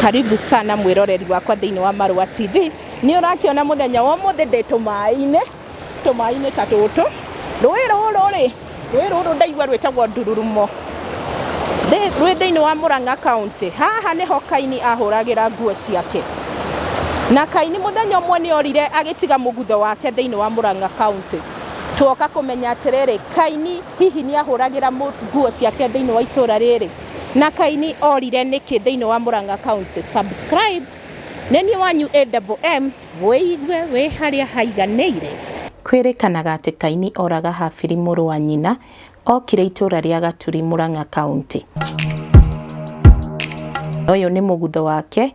Karibu sana mwĩroreri wakwa thĩinĩ wa Marũa TV. Nĩ ũrakĩona mũthenya wa ũmũthĩ ndĩ tũmaĩ-inĩ, tũmaĩ-inĩ ta tũtũ. Rũĩ rũrũ rĩ, rũĩ rũrũ ndaigua rwĩtagwo Ndururumo. Ndĩ- Rwĩ thĩinĩ wa Mũrang'a kaunti. Haha nĩho Kaini ahũragĩra nguo ciake. Na Kaini mũthenya ũmwe nĩ orire agĩtiga mũgutho wake thĩinĩ wa Mũrang'a kaunti. Tuoka kũmenya atĩrĩrĩ, Kaini hihi nĩ ahũragĩra mũ- nguo ciake thĩinĩ wa itũũra rĩrĩ? Na Kaini orire nĩkĩ thĩinĩ wa Murang'a County subscribe nĩ niĩ wanyu AMM wĩigue wĩ harĩa haiganĩire. Kwĩrĩkanaga atĩ Kaini oraga Habili mũrũ wa nyina okire itũũra rĩa Gaturi, Murang'a County. Ũyũ nĩ mũgutho wake.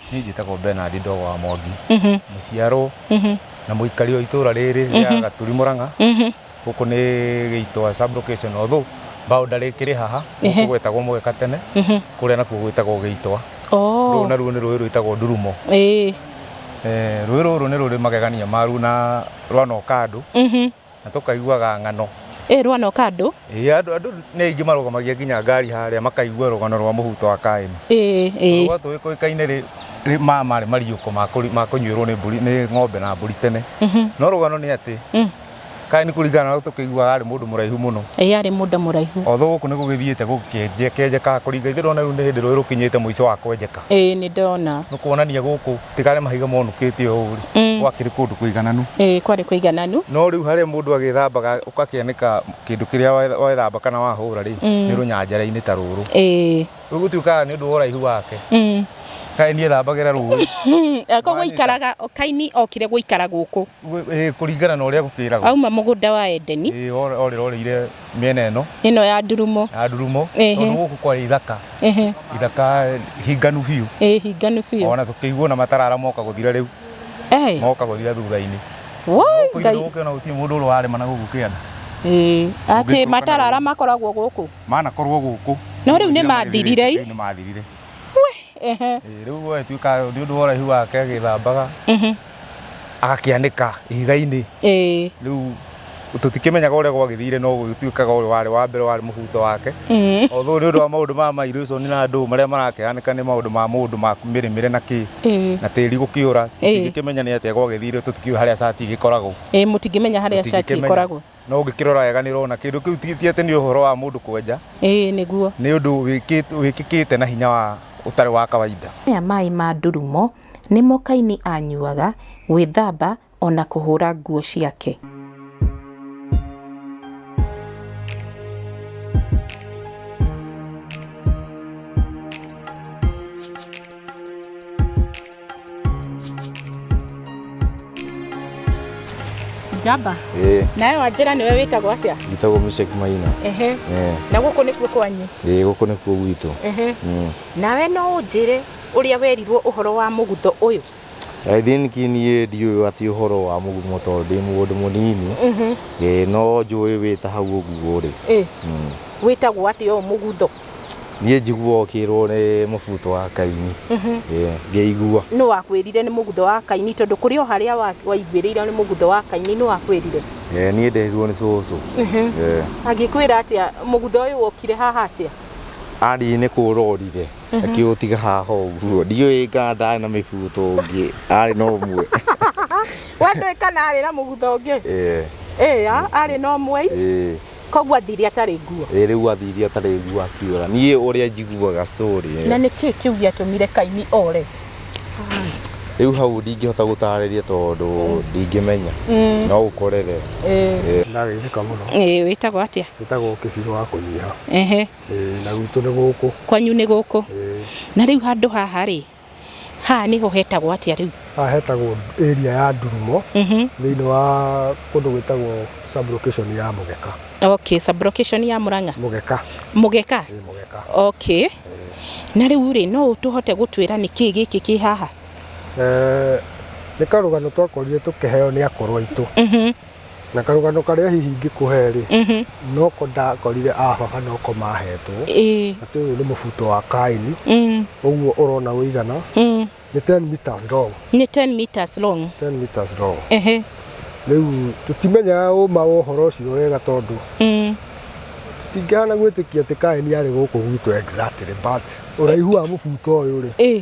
Niĩ njĩtagwo Benard Ndogo wa Mwangi, mũciarwo na mũikari wa itũra rĩrĩ rĩa Gaturi Mũrang'a. Gũkũ nĩ Gĩitwa sub location although boundary ĩkĩrĩ haha, gũkũ gwetagwo Mũgeka tene, kũrĩa nakuo gwĩtagwo Gĩitwa. Rũrũ naruo nĩ rũĩ rwĩtagwo Ndurumo. Rũĩ rũrũ nĩ rũrĩ magegania maruo na rwanooka andũ, Na tũkaiguaga ng'ano. Ĩĩ ruo na ũkandũ. Ĩĩ andũ andũ nĩ aingĩ marũgamagia nginya ngari harĩa makaigua rũgano rwa mũhuto wa Kaini. Ĩĩ ĩĩ. Rũa tũĩ kũĩkaine rĩ rĩ ma marĩ mariũko ma kũnyuĩrwo nĩ mbũri nĩ ng'ombe na mbũri tene. No rũgano nĩ atĩ Kaini kũringana na ũrĩa tũkĩiguaga arĩ mũndũ mũraihu mũno. Ĩĩ arĩ mũndũ mũraihu. Although gũkũ nĩ gũgĩthiĩte gũkĩenjekaga kũringa ithuĩ ndĩrona rĩu nĩ hĩndĩ rũĩ rũkinyĩte mũico wa kwenjeka. Ĩĩ nĩ ndona. Nĩ kuonania gũkũ. tiga arĩa mahiga monũkĩte ũũ rĩ Mm. gwakĩrĩ kũndũ kũigananu ĩĩ kwarĩ kũigananu no rĩu harĩa mũndũ agĩthambaga ũgakĩanĩka kĩndũ kĩrĩa wa- wethamba kana wahũra rĩ Mm. nĩ rũnyanjara-inĩ ta rũrũ ĩĩ rĩu gũtuĩkaga nĩ ũndũ wa ũraihu wake Mm. kaĩ niĩ thambagĩra rũĩ Hmm, eh, koguo Manita. ikaraga kaini okire gũikara gũkũ Gũ- ĩĩ, kũringana na ũrĩa gũkĩragwo auma mũgũnda wa edeni orĩrorĩire mĩena ĩno ĩno ya ndurumo ya ndurumo Ehe. tondũ gũkũ kwarĩ ithaka Ehe, ithaka hinganu biũ ĩ hinganu biũ ona tũkĩiguo na matarara moka gũthira rĩu Eh, moka gũthira thutha-inĩ woi, Gũkũ Ngai. ũkĩona gũtirĩ mũndũ ũrĩa warĩma na gũkũ kĩanda Ĩ, atĩ Ũngĩcoka matarara nawe. makoragwo gũkũ manakorwo gũkũ No rĩu nĩ mathirire i? Rĩu nĩ mathirire Ehe, Ĩ, rĩu gũgĩtuĩka nĩ ũndũ wa ũraihu wake agĩthambaga mhm. agakĩanĩka ihiga-inĩ ĩĩ rĩu tũtikĩmenyaga ũrĩa gwagĩthire no gũgĩtuĩkaga ũyũ warĩ wa mbere warĩ mũbuto wake Mm. although nĩ ũndũ wa maũndũ ma mairation na andũ marĩa marakĩhanĩka nĩ maũndũ ma mũndũ ma mĩrĩmĩre na kĩ ĩĩ na tĩri gũkĩũra Ĩĩ. tũtingĩkĩmenya nĩ atĩa gwagĩthire tũtikiũĩ harĩa cati igĩkoragwo ĩĩ mũtingĩmenya harĩa cati Tũtingĩkĩmenya. ĩkoragwo no ũngĩkĩrora wega nĩ ũrona kĩndũ kĩu ti ti atĩ nĩ ũhoro wa mũndũ kwenja ĩĩ nĩguo nĩ ũndũ wĩkĩt- wĩkĩkĩte na hinya wa ũtarĩ wa kawaida Maya maĩ ma ndurumo Nĩmo Kaini aanyuaga, gwĩthamba, o na kũhũũra nguo ciake. Njamba, ĩĩ nawe wanjĩra nĩwe wĩtagwo atĩa? njĩtagwo Meshach Maina Ehe, Eh, na gũkũ nĩkuo kwanyu? ĩĩ gũkũ nĩkuo gwitũ Ehe, Mm. nawe no ũnjĩre ũrĩa werirwo ũhoro wa mũgutho ũyũ? I think niĩ ndiũĩ atĩ ũhoro wa mũgumo tondũ ndĩ mũndũ mũnini Ĩĩ, no njũĩ wĩ ta hau ũguo rĩ Ĩ, wĩtagwo atĩa ũyũ mũgutho? niĩ njiguaga ũkĩrwo nĩ mũbuto wa kaini Ĩĩ, ngĩigua Nũ wakwĩrire nĩ mũgutho wa kaini tondũ kũrĩ o harĩa wa- waiguĩrĩire nĩ mũgutho wa kaini nũ wakwĩrire? Ĩĩ, niĩ nderirwo nĩ cũcũ Ĩĩ. Agĩkwĩra atĩa mũgutho ũyũ wokire haha atĩa? Andirie nĩ kũũrorire akiũtiga haha ũguo ndiũĩ ngandaarĩ na mĩbuto ũngĩ arĩ na ũmwe wendũĩ kana arĩ na mũgutha ũngĩ Eh, ĩĩ ya arĩ na ũmwe eh, koguo athiri atarĩ nguo eh, rĩu athiria atarĩ nguo akiũra niĩ ũrĩa njiguaga story eh. na nĩ kĩĩ kĩu gĩatũmire kaini ore rĩu hau ndingĩhota gũtarĩria tondũ ndingĩmenya Mm. no ũkorere Ĩĩ. ndarĩrĩka mũno ĩĩ wĩtagwo atĩa njĩtagwo kĩbirũ wa kũnyiha ehe Ĩĩ, na gwitũ nĩ gũkũ. Kwanyu nĩ gũkũ. Ĩĩ. Na rĩu handũ haha rĩ, haha nĩho hetagwo atĩa rĩu? Haha hetagwo area ya Ndurumo thĩinĩ wa kũndũ gwĩtagwo sub location ya Mũgeka. Okay, sub location ya Mũrang'a? Mũgeka. Mũgeka? Ĩĩ, Mũgeka. Okay. Na rĩu rĩ, no ũtũhote gũtwĩra nĩkĩ gĩkĩ kĩ haha? Nĩ karũgano twakorire tũkĩheo nĩ akũrũ aitũ. na karũgano karĩa hihi ingĩkũhe rĩ Mhm. noko ndakorire ababa noko mahetwo Ĩĩ. atĩ ũyũ nĩ mũbuto wa kaini Mm. ũguo ũrona ũigana Mm. nĩ 10 meters long nĩ 10 meters long 10 meters long ehe rĩu tũtimenyaga ũma wa ũhoro ũcio wega tondũ Mm. tingĩhana gwĩtĩkia atĩ kaeni arĩ gũkũ gwitũ exactly but ũraihu wa mũbuto ũyũ rĩ Ĩĩ.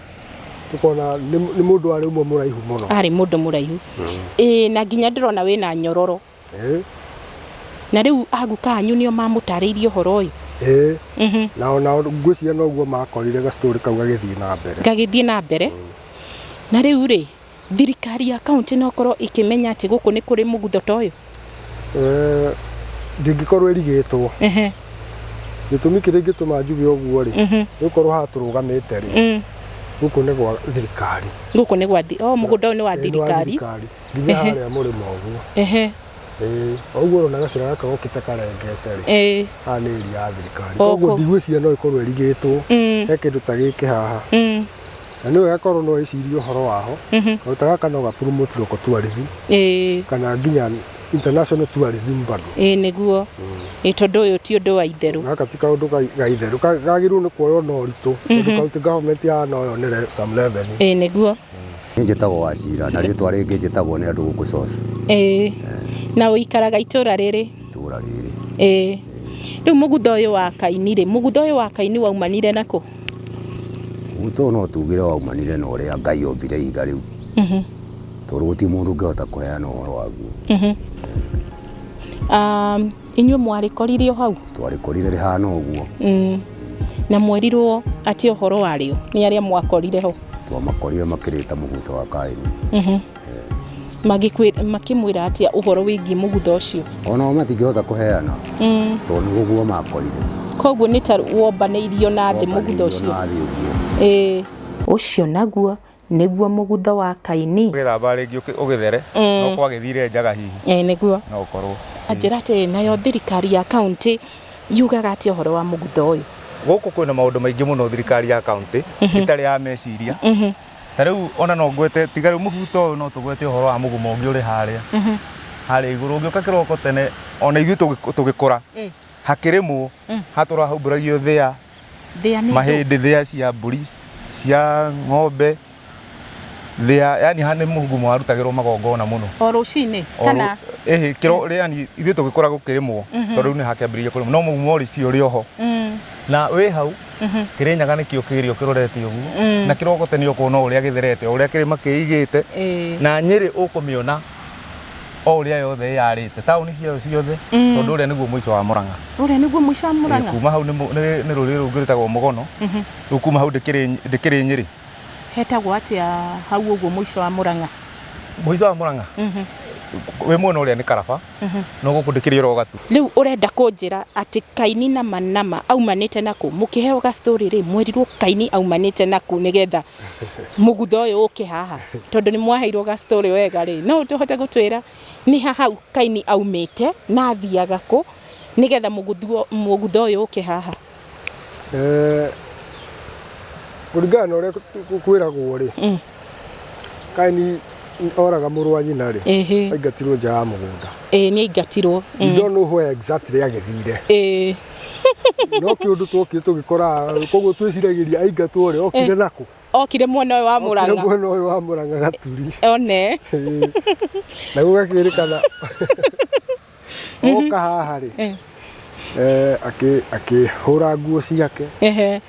tukona nĩ nĩ mũndũ warĩ ũmwe mũraihu mũno arĩ mũndũ mũraihu ĩĩ na nginya ndĩrona wĩna nyororo Eh, na rĩu aguka anyu nĩo mamũtarĩirie ũhoro ũyũ eh. Mhm. na ona ngwĩciria noguo makorire gacitori kau gagĩthiĩ na mbere gagĩthiĩ na mbere na rĩu rĩ Thirikari ya kaũntĩ no ĩkorwo ĩkĩmenya atĩ gũkũ nĩ kũrĩ mũgutho ta ũyũ? Eh, ndingĩkorwo ĩrigĩtwo Ehe, gĩtũmi kĩrĩa ingĩtũma njuge ũguo rĩ mhm, nĩgũkorwo haha tũrũgamĩte rĩ mm. gũkũ nĩ gwa thirikari Gũkũ nĩ gwa thi... Oh, mũgũnda ũyũ nĩ wa Eh, nĩ wa thirikari. nginya Ehe. harĩa mũrĩmo ũguo Ehe, Ĩĩ, o ũguo ũrona gacĩra gaka gokĩte karengete rĩ eh, haha nĩ ĩri ya thirikari O koguo kũ- ndigwĩciria no ĩkorwo ĩrigĩtwo mm, he kĩndũ ta gĩkĩ haha mm. na nĩ wega korwo no wĩcirie ũhoro waho Mhm. kaũndũ ta gaka no ga promote local tourism ĩĩ kana nginya international tourism bado ĩĩ nĩguo ĩĩ tondũ ũyũ ti ũndũ wa itherũ gaka ti kaũndũ ga- ga itherũ Ka- gagĩrĩirwo nĩ kuoywo na ũritũ tondũ kaũntĩ government ya no yonere some level ĩĩ nĩguo Niĩ njĩtagwo Wachira na rĩtwa rĩngĩ njĩtagwo nĩ andũ gũkũ South ĩĩ na ũikaraga itũũra rĩrĩ itũũra rĩrĩ. ĩĩ rĩu mũgutha ũyũ wa kaini rĩ mũgutha ũyũ wa kaini waumanire nakũ Gwitũ no tugĩre waumanire na ũrĩa Ngai ombire ihiga rĩu. Tondũ gũtirĩ mũndũ ũngĩhota kũheana ũhoro waguo. Inyuĩ mwarĩkorire o hau? Twarĩkorire rĩhana ũguo. Na mwerirwo atĩa ũhoro warĩo nĩ arĩa mwakorire ho? Twamakorire makĩrĩte mũbuto wa Kaini. Magĩkwĩ- makĩmwĩra atĩa ũhoro wĩgiĩ mũgutha ũcio onao matingĩhota kũheana Mm. tondũ nĩ ũguo makorire koguo nĩ ta wombanĩirio na thĩ mũgutha ũcio na thĩ ũguo Ĩĩ. ũcio naguo nĩguo mũgutha wa kaini ũgĩthamba rĩngĩ ũkĩ- ũgĩthere Mm. no kwagĩthire njaga hihi Ĩĩ, nĩguo no ũkorwo njĩra atĩ nayo thirikari ya kaunti yugaga atĩa ũhoro wa mũgutha ũyũ gũkũ kwĩna maũndũ maingĩ mũno thirikari ya kaunti ĩtarĩ ya meciria ta rĩu ona no ngwete tiga rĩu mũbuto ũyũ no tũgwete ũhoro wa mũgumo ũngĩ ũrĩ harĩa Mhm. harĩa igũrũ ũngĩũka kĩroko tene ona ithuĩ tũgĩ- tũgĩkũra Eh, hakĩrĩmwo Mm. hatũra haumbũragio thĩa thĩa nĩ ndũ. mahĩndĩ thĩa cia mbũri cia ng'ombe thĩa yani ha nĩ mũgumo warutagĩrwo magongona mũno o rũcinĩ O kana rũ- ĩhĩ kĩro yani ithuĩ tũgĩkũra gũkĩrĩmwo Mhm. tondũ rĩu nĩ hakĩambĩrĩirie kũrĩmwo no mũgumo ũrĩ cio ũrĩ oho Mm. na wĩ hau Mhm. kĩrĩnyaga nĩkĩo kĩrĩo kĩrorete ũguo mm. na kĩroko tene ũkuona ũrĩa gĩtherete ũrĩa kĩrĩma kĩigĩte eh. na nyĩrĩ ũkũmĩona o ũrĩa yothe yarĩte taũni ciayo ciothe mm. tondũ ũrĩa nĩguo mũico wa mũrang'a ũrĩa nĩguo mũico wa eh, mũrang'a kuma hau nĩ rũrĩrĩ rũngĩ rwĩtagwo mũgono mhm. rĩu kuma hau ndĩkĩrĩ nyĩrĩ hetagwo atĩa hau ũguo mũico wa mũrang'a mũico wa mũrang'a mhm. wĩ mwena ũrĩa nĩ karaba no gũkũ ndĩkĩrĩ oro gatu Rĩu ũrenda kũnjĩra atĩ Kaini na Manama aumanĩte na kũ? Mũkĩheo ga story rĩ, mwerirwo Kaini aumanĩte na kũ nĩgetha mũgutha ũyũ ũke haha? Tondũ nĩ mwaheirwo ga story wega rĩ, no ũhote gũtwĩra nĩ ha hau Kaini aumĩte na athiaga kũ nĩgetha mũgutha ũyũ ũke haha? Eh, kũringana na ũrĩa kũ- kwĩragwo rĩ Mm. kaini oraga mũrũ wa nyina rĩ Ĩhĩ. aingatirwo nja ya mũgũnda Ĩĩ nĩ aingatirwo. you don't know where exactly agĩthire Ĩĩ. no kä å ndå twokire tå gä kora koguo twä ciragä aingatwo rä okire nakå Okire mwena ũyũ wa Mũrang'a. mwena å yå wa må ranga gaturi One. na gå gakä rä kana oka haha rĩ Eh, eh, akĩ- akĩhũra nguo ciake ehe.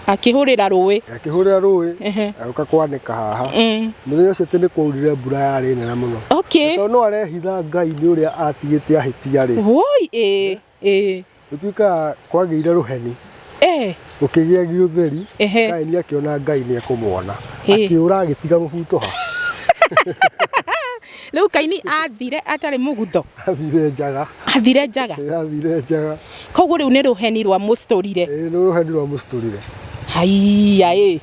Akĩhũrĩra rũĩ. akĩhũrĩra rũĩ Ehe. agĩũka kwanĩka haha Mm. mũthenya ũcio atĩ nĩ kwaurire mbura yarĩ nene mũno Okay. tondũ no arehitha ngai nĩ ũrĩa atigĩte ahĩtia rĩ Woi, eh, eh. Gũtuĩkaga kwagĩire rũheni. Eh. Gũkĩgĩa gĩũtheri. Ehe. Kaini akĩona Ngai nĩ ekũmwona. Ĩ. Akĩũra agĩtiga gũbutoha. Rĩu Kaini athire atarĩ mũgutho. Athire njaga. Athire njaga. Ĩ, Athire njaga. Koguo rĩu nĩ rũheni rwa mũstũrire. Ĩ, Nĩ rũheni rwa mũcitũrire. Haiya ĩ.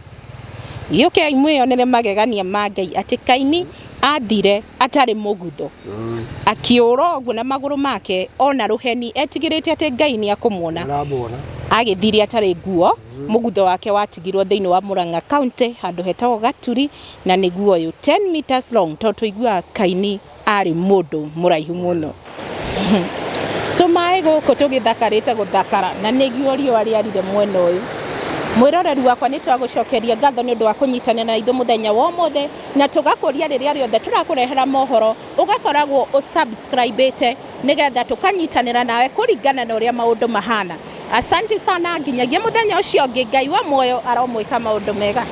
Gĩũkei mwĩyonere magegania ma Ngai atĩ Kaini athire atarĩ mũgutho, akĩũra ũguo na magũrũ make ona rũheni, etigĩrĩte atĩ Ngai nĩ akũmuona. Aramuona. Agĩthire atarĩ nguo, mũgutho wake watigirwo thĩinĩ wa Murang'a County, handũ hetagwo Gaturi, na nĩguo ũyũ, 10 metres long, tondũ tũiguaga Kaini arĩ mũndũ mũraihu mũno. Tũmaĩ gũkũ tũgĩthakarĩte gũthakara na nĩguo riũa rĩarire mwena ũyũ. Mwĩroreri wakwa nĩ twagũcokeria ngatho nĩ ũndũ wa kũnyitanĩra na ithuĩ mũthenya wa ũmũthĩ na tũgakũria rĩrĩa rĩothe tũrakũrehera mohoro ũgakoragwo ũ subscribe ĩte nĩ getha tũkanyitanĩra nawe kũringana na ũrĩa maũndũ mahana. Asanti sana nginyagia mũthenya ũcio ũngĩ Ngai wa muoyo aromwĩka maũndũ mega.